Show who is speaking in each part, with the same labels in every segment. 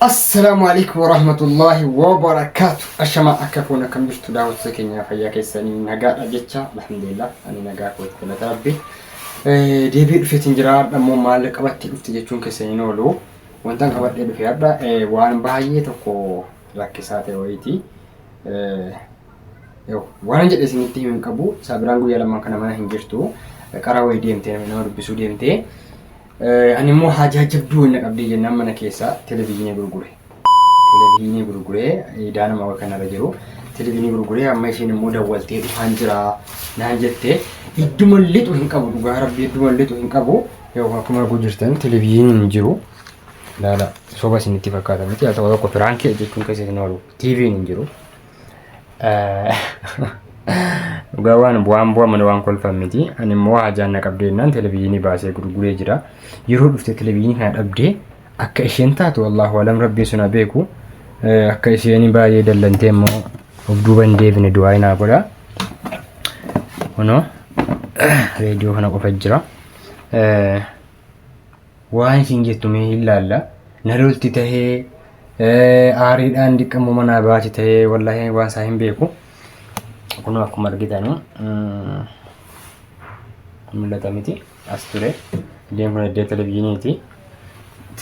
Speaker 1: Assalaamu alaikum warahmatullahi wabarakaatu. Ashamaa akka foon akkam jirtu daawwattoota keenya fayyaa keessanii nagaadha jecha alhamdulillah ani nagaa kootti galata rabbi. Deebi'ee dhufeetiin jira dhammoo maal qabattee dhufte jechuun keessan hin oolu. Wantan qabadhee dhufe hadha waan baay'ee tokko rakkisaa ta'e wayiiti. Waan jedhe isinitti himu hin qabu. Saabiraan guyyaa lamaan kana mana hin jirtu. Qaraa wayii deemtee nama dubbisuu deemtee. Ani immoo haajaa jabduu wayii na qabdee jennaan mana keessaa televezyiinii gurgure. Televezyiinii gurguree idaa nama wayii kanarra jiru. Televezyiinii gurguree amma isheen immoo dawwaltee dhufaan jira naan jette. Idduma lixu hin qabu dhugaa rabbii idduma lixu hin qabu. Yoo akkuma arguu jirtan televezyiiniin hin jiru. Ilaala soba isinitti fakkaata miti haa ta'u tokko piraankii jechuun keessa isin oolu. TV'n hin jiru. Dhugaa waan bu'aan bu'a malee waan kolfan miti. Ani immoo hajaan na qabdee jennaan televezyiinii baasee gurguree jira. Yeroo dhufte televezyiinii kana dhabdee akka isheen taatu wallaahu alam rabbiin sun haa beeku. Eh, Akka isheen baay'ee dallantee immoo of duuba hin deebine du'aa hin godha. Kunoo reediyoo kana qofa jira. Eh, waan isin jettu mee hin laalla na lolti tahee aariidhaan diqqammoo manaa baati tahee wallaahi waan isaa hin beeku kunoo akkuma argitanu mul'ata miti as ture iddeen kun iddee televizyiiniiti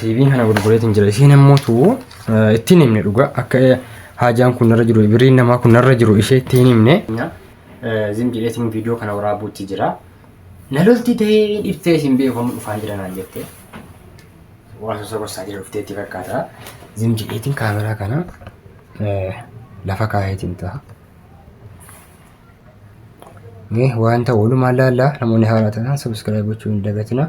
Speaker 1: tiiviin kana gurgureetiin jira isheen ammoo tuu ittiin himne dhugaa akka haajaan kun narra jiru birriin namaa kun narra jiru ishee ittiin himne zim jedheetiin viidiyoo kana waraabuutti jira Na lolti ta'ee dhiftee isin beeku amma dhufaa jira naan jettee. Waan sosa gorsaa jira dhuftee itti fakkaata. Zim jedheetiin kaameraa kana eh, lafa kaayeetiin ta'a. Mee wanta walumaan laallaa namoonni haaraa ta'an subscribe gochuu hin dagatina.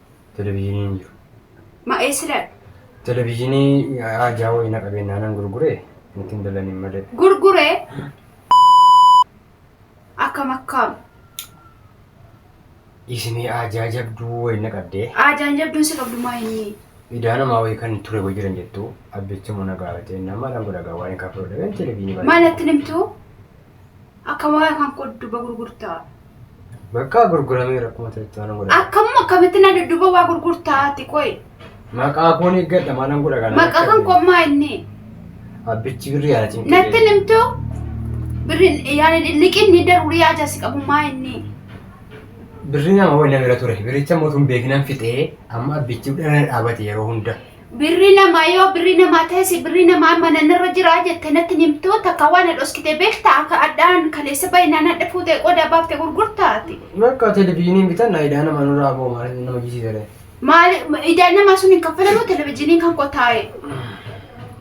Speaker 2: Televizyiinii
Speaker 1: hin jiru. Ma eesila?
Speaker 2: Televizyiinii
Speaker 1: ajaa wayii na qabeen naanan gurgure nuti hin dalaniin malee. Gurgure
Speaker 2: akkam akkam
Speaker 1: Isimii ajaa jabduu wayii na qabdee. aadaan jabduun si qabdu
Speaker 2: maa inni Idaa namaa wayii kan
Speaker 1: ture wayii jiran jettu abbichi muna gaafatee nama dhan godhagaa waan hin kaffaluu dhabeen televizyiinii baay'ee. maalatti nimtu
Speaker 2: Akka waaya kan koo dudduba gurgurtaa. Bakka
Speaker 1: gurguramee rakkuma ta'etti waan godha. Akkamuma akkamitti na dudduba
Speaker 2: waa gurgurtaa ati qoy. Maqaa koon
Speaker 1: eeggadha maalan godha kana. Maqaa kan koo maa
Speaker 2: inni. Abbichi
Speaker 1: birrii ana cinqee. Natti hin himtu.
Speaker 2: Birri yaani liqin ni daruurii ajasi qabu maa inni.
Speaker 1: Birrii nama wayii na bira ture. Birricha mootuun beekinan fixee amma abbichi dhala dhaabate yeroo hunda. Birri namaa
Speaker 2: yoo birri namaa teessi birri namaa mana narra jiraa jette natti nimtuu takka waan dhoskite beekta akka adhaan kaleessa baay'inaan adha fuutee qodaa baafte gurgurtaati. Bakka televizyiiniin
Speaker 1: bitanna idaa nama nurraa boo maal nama jisiisere. Maali
Speaker 2: idaan namaa sun hin kaffalamuu televizyiiniin kan qotaa'e.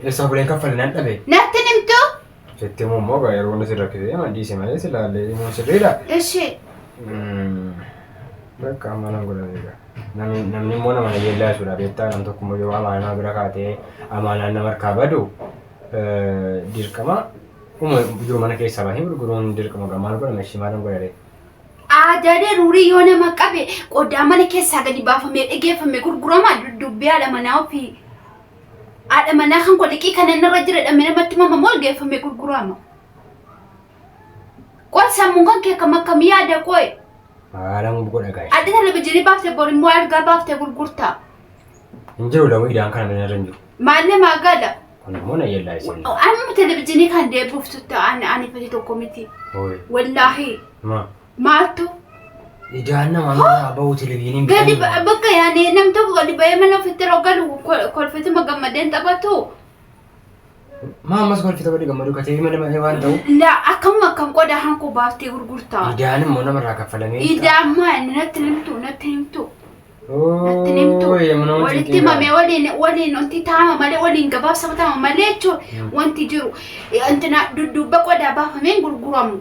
Speaker 1: Eessaa bulee hin kaffale nan dhabe. Natti nimtuu
Speaker 2: Sitti himuu immoo
Speaker 1: gaa yeroo inni si rakkisee hima dhiise malee silaallee himuun sirriidha. Eshi. Bakka amma nan godha beeka. Namni namni immoo nama na yeellaa jechuudha beektaa nam tokko immoo yeroo amaanaa bira kaatee amaanaan nama harkaa badu eh, dirqama uma jiru mana keessaa bahee gurguruun dirqama gaa maal godhama ishii maalan godhare. Aadaalee
Speaker 2: ruurii yoo nama qabe qodaa mana keessaa gadi baafamee dhageeffame gurgurama duddubbee haadha manaa ofii. Haadha manaa kan koo liqii kana inni irra jira dhamee namatti mama moo geeffamee gurguraama? Qoy sammuun kan kee akkam akkam yaada qoy. Haala
Speaker 1: mum godha gaashe. Adda televizyiinii baaftee
Speaker 2: bor immoo algaa baaftee gurgurtaa. Hin
Speaker 1: jiru lamu idaan kana mana irra hin jiru. Maalle maa gala?
Speaker 2: Kun immoo na
Speaker 1: yellaa isin. Amma televizyiinii
Speaker 2: kan deebi'uuf tutta ani ani fati tokko miti. Hooyi. Wallaahi. Ma. Maaltu?
Speaker 1: Idaan nama nurraa bahu televiziyiin Gadi bitanii ba- bakka
Speaker 2: yaani nam tokko gadi ba'ee mana ofitti yeroo galu ko- kolfituma gammadeen taphatu.
Speaker 1: Maa ammas kolfita godhi gammadu ka televiziyiin mana ba'ee waan ta'u. La akkamuma akkan
Speaker 2: qoda hankoo baaftee gurgurtaa. Idaan immoo namarraa
Speaker 1: kaffalamee. Idaa ammaa inni natti
Speaker 2: himtu natti himtu. Natti himtu. Walitti mamee waliin waliin wanti taama malee waliin gabaabsama taama malee jechuun wanti jiru. Wanti na dudduubba qodaa baafameen gurguramu.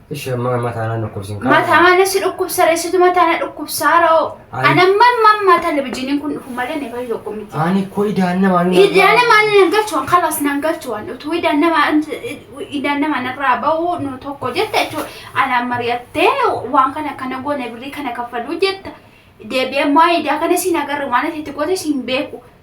Speaker 2: Ishee amma
Speaker 1: mataa na dhukkubsin kaa. Mataa na si
Speaker 2: dhukkubsa reessitu mataa na dhukkubsaa ra'oo. Ani- Ani amma amma amma televizyiiniin kun dhufu malee ni fayyu tokko miti. Ani koo idaan
Speaker 1: namaa ni Idaan namaa ni nan
Speaker 2: galchuwan kalas nan galchuwan utuu idaan namaa idaan namaa narraa ba'u nu tokko jetta jechuudha. Ana mari'attee waan kana akkana goone birrii kana kaffaluu jetta. Deebi'ee immoo idaa kana siin agarre waan ati itti goote siin beeku.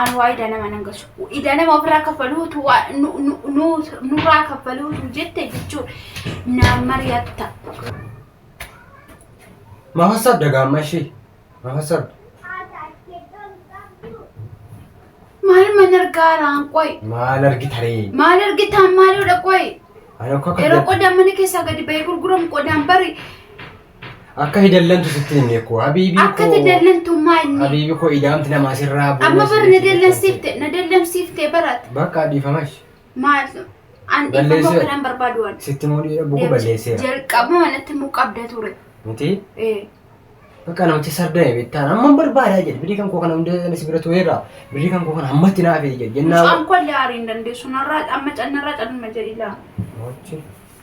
Speaker 1: An waa
Speaker 2: idaa nama nan galchu. Idaa nama ofirraa kaffaluutu waa nu- nu- nu- nurraa kaffaluutu jette jechuun naan mari'atta.
Speaker 1: Maaf hasaabda gaamma ishee? Maaf hasaabda?
Speaker 2: Maal man argaaraan qoy. Maal argita ree?
Speaker 1: Maal argitaan
Speaker 2: maaloodha qoy. Ani akka Yeroo
Speaker 1: qodaan mana keessaa
Speaker 2: gadi ba'ee gurguramu qodaan bari
Speaker 1: Akka hidallantu sitti himne koo habiibii koo. Akka hidallantummaa
Speaker 2: inni. Habiibii koo idaamti namaa
Speaker 1: sirraa bu'u. Amma bara na dallansiifte
Speaker 2: na dallansiifte baraate. Bakka dhiifamash.
Speaker 1: Maal
Speaker 2: an dhiifama kanan barbaadu waan. Sitti moo dhiira buku
Speaker 1: balleesseera. Jalqaba manatti muu
Speaker 2: qabda ture. Miti?
Speaker 1: Ee. Bakka namichi sardaa eebittaan amma barbaadaa jedhe birrii kan koo kana hundee anis bira tureera birrii kan koo kana ammatti naaf jedhe jennaa. Mucaan koo illee aariin
Speaker 2: dandeessu narraa amma cannarraa cannuma jedhi laa. Mochi.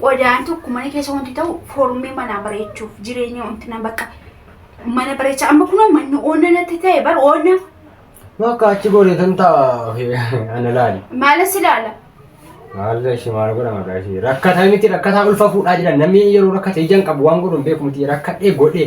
Speaker 2: qodaan tokko mana keessa wanti ta'u foormii manaa bareechuuf jireenya wanti na bakka mana bareecha amma kun manni oonna natti ta'e bar oonna Bakka
Speaker 1: achi goone kan ta'a ana laali. maalas ilaala
Speaker 2: Maalirra
Speaker 1: ishee maal godha maqaa ishee rakkataa miti rakkataa ulfa fuudhaa jedhan namni yeroo rakkate ijaan qabu waan godhu hin beeku miti rakkadhee godhee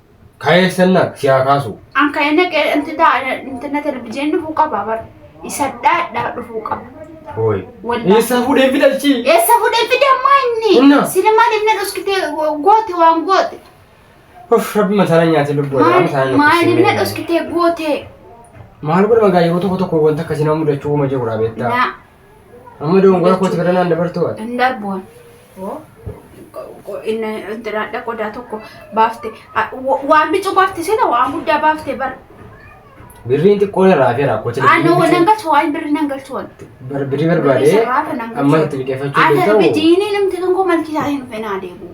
Speaker 2: Kayeessanna
Speaker 1: siyaa kaasu. An ka'ee naqee
Speaker 2: inti ta'a intinna televizyiin dhufuu qaba bar. Isa dhaadhaa dhufuu qaba. Hooy.
Speaker 1: Wallahi. Eessa fuudhee fidalchi? Eessa fuudhee fide
Speaker 2: ammaa inni? Inna. Sini maaliif na dhoskite goote waan goote? Uff
Speaker 1: rabbi
Speaker 2: masaana nyaatee
Speaker 1: lubbuu irraa Maal-
Speaker 2: masaana
Speaker 1: Maaliif na
Speaker 2: dhoskite
Speaker 1: goote? Maal godhama gaa yeroo tokko tokko wanta akkasii nama mudachuu uuma jirudha beektaa? Naa.
Speaker 2: Amma
Speaker 1: dogongora kooti bira naan dabartuu ati. Hin darbuun.
Speaker 2: Dhadha qodaa tokko baafte. Waan bicuu baafte seeta waan guddaa baafte bar. Birriin
Speaker 1: xiqqoon irraa hafeera kooti. Aannan waan nan galchu waan
Speaker 2: birri nan galchu waan. Birrii barbaadee
Speaker 1: amma itti liqeeffachuu Ati danda'u. bidiinii namti
Speaker 2: kan
Speaker 1: koo
Speaker 2: malkisaa hin fenaa deebi'u.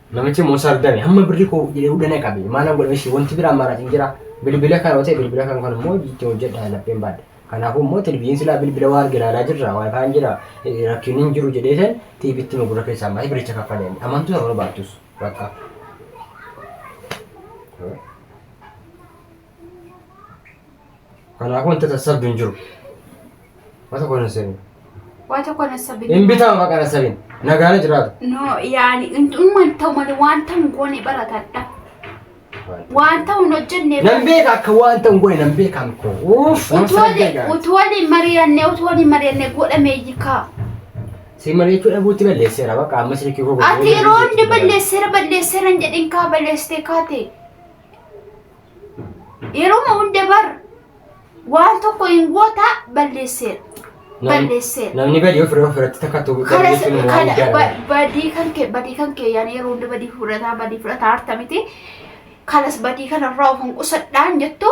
Speaker 1: Namichi immoo sardame hamma birri koo jedhee hudhana qabe maalan godhe ishee wanti biraa maraa hin jira bilbila kan otee bilbila kan kan immoo itti hojjedha lapheen baadha. Kanaafuu immoo tilbiin silaa bilbila waan arge ilaalaa jirra waan kaan jira rakkiin hin jiru jedhee san tiibitti nu gurra keessaa malee biricha kaffalee amantu sana barbaachus bakka. Kanaafuu wanta sassabdu hin jiru. Waa tokko hin sassabin. Waa tokko na
Speaker 2: sabin. Hin bitama baqa na sabin.
Speaker 1: Nagaana jiraata. No yaani
Speaker 2: umman ta'u malee wanta hin goone baratadha. Wanta hin hojjenne. Nan beeka akka wanta
Speaker 1: hin goone nan beeka miko. Uuf. Utuu waliin utuu waliin
Speaker 2: mari'annee utuu waliin mari'annee godhame hiikaa. Si
Speaker 1: mari'achuu dhabuutti balleesseera baqa amma silkii koo. Ati yeroo hundi balleesseera
Speaker 2: balleesseera hin jedhin kaa balleessitee kaate. yeruma hunda bar waan tokko hin goota balleesseera Nam- balleesseera
Speaker 1: Namni badii ofirra ofirratti takkatu kana jechuun waan kana jaalladha.
Speaker 2: ba- badii kan kee badii kan kee yaani yeroo hunda badii fudhataa badii fudhataa harta miti kanas badii kanarraa of hin qusadhaan jettu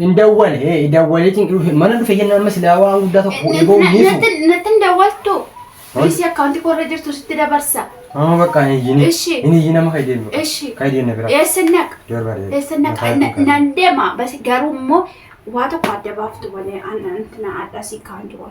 Speaker 2: Hin dawwale ee
Speaker 1: dawwaleetiin dhufe mana dhufe jennaan amma silaa waan guddaa tokko fuudhee ba'u hin dhiisu. Natti hin dawwaltu.
Speaker 2: Dhiisii akkaawuntii koo irra jirtu sitti dabarsa. Amma bakka hin iyyine.
Speaker 1: Ishi. Hin iyyine amma kan deemu. Ishi. Kan deemu na bira. Eessa naqa? Darba deemu.
Speaker 2: Eessa naqa? Mataa Na- hin Nan deema. Bas garuu immoo waa tokko adda baaftu malee an- an- na adda si kaan jiru.